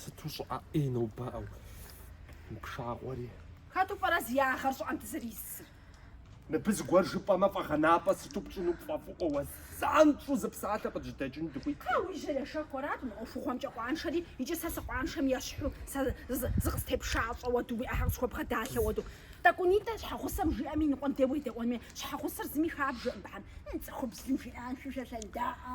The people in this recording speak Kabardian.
Сыту щӏыӏэ ӏей нобэ, ӏэу, пшагъуэри. Хэту пӏэрэ зи ягъэр щӏыӏэм дызэрисыр? Мыбы зыгуэр жыпӏэмэ, фӏэгъэнапӏэ сыту пщӏыну пфӏэфӏыӏуэ уэ, занщӏэу зы псалъэ къыджьэдэкӏыну дыхуиткъэ. А уи жьэрэ шэхуэрат мы ӏуэхугъуэмкӏэ къуаншэри, икӏи сэ сыкъуаншэм ещхьу, сэ зыкъыстепшащӏэ хуэду, уи ӏэхэр къысхуэбгъэдалъэ хуэду. Тӏэкӏунитӏэ щхьэгъусэм жиӏэм и ныкъуэм де уедэӏуэнми, щхьэгъусэр зыми хабжэкъым, быхьэм, цӏыхубзым жиӏэнщи, шэ лъэндаӏэ.